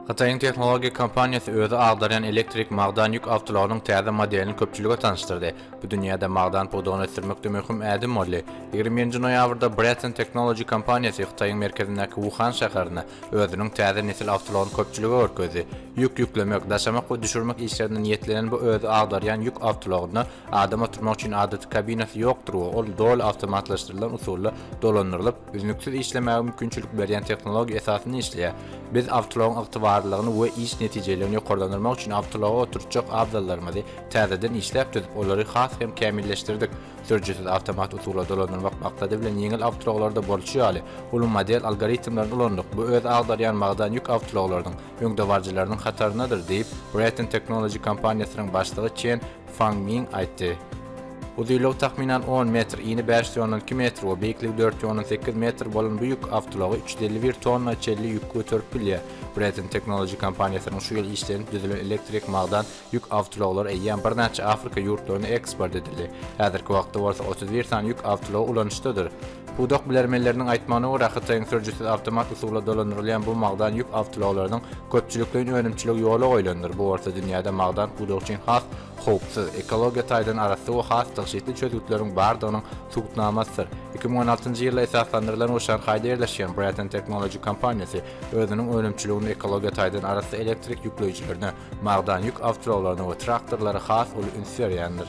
Hytaýyň tehnologiýa kompaniýasy özi agdarýan elektrik magdan ýük awtolarynyň täze modelini köpçülige tanyşdyrdy. Bu dünýäde magdan pudagyny ösdürmekde möhüm ädim boldy. Ýigrimi birinji noýabrda Breton Technology kompaniýasy Hytaýyň merkezindäki Wuhan şäherinde özüniň täze nesil awtolaryny köpçülige görkezdi. Ýük ýüklemek, daşamak we düşürmek işlerine niýetlenen bu özi agdarýan ýük awtolagynda adam oturmak üçin adaty kabinasy ýokdur we ol doly awtomatlaşdyrylan usulda dolandyrylyp, Üznüksiz işlemäge mümkinçilik berýän tehnologiýa esasynda işleýär. Biz awtoulagyň ygtybarlylygyny we iş netijeliligini ýokarlandyrmak üçin awtoulaga oturtjak abzallarymyzy täzeden işläp düzüp, olary has hem kämilleşdirdik. Sürüjisiz awtomat usula dolandyrmak maksady bilen ýeňil awtoulaglarda bolşy ýaly, uly model algoritmlerini ulandyk. Bu öz agdarýan magdan ýük awtoulaglarynyň öňdebaryjylarynyň hataryndadyr, diýip, Breton Technology kompaniýasynyň başlygy Çen Fang Ming aýtdy. Uzynlygy takmynan on metr, ini bäş ýüz on iki metr we beýikligi dört ýüz on sekiz metr bolan bu ýük awtoulagy üç ýüz elli bir tonna çenli ýük göterip bilýär. Breton Technology kompaniýasynyň şu ýyl işlenip düzülen elektrik magdan ýük awtoulaglary eýýäm birnäçe Afrika ýurtlaryna eksport edildi. Häzirki wagtda bolsa otuz bir sany ýük awtoulagy ulanyşdadyr. Pudak bilermenleriniň aýtmagyna görä, Hytaýyň sürüjisiz awtomat usula dolandyrylýan bu magdan ýük awtoulaglarynyň köpçülikleýin önümçiligi ýola goýlandyr, bu bolsa dünýäde magdan pudagy üçin has howpsuz, ekologiýa taýdan arassa we has tygşytly çözgütleriň bardygynyň subutnamasydyr. Iki müň on altynjy ýylda esaslandyrylan we Şanhaýda ýerleşýän Breton Technology kompaniýasy özüniň önümçiliginde ekologiýa taýdan arassa elektrik ýükleýjilerine, magdan ýük awtoulaglaryna we traktorlara has uly üns berýändir.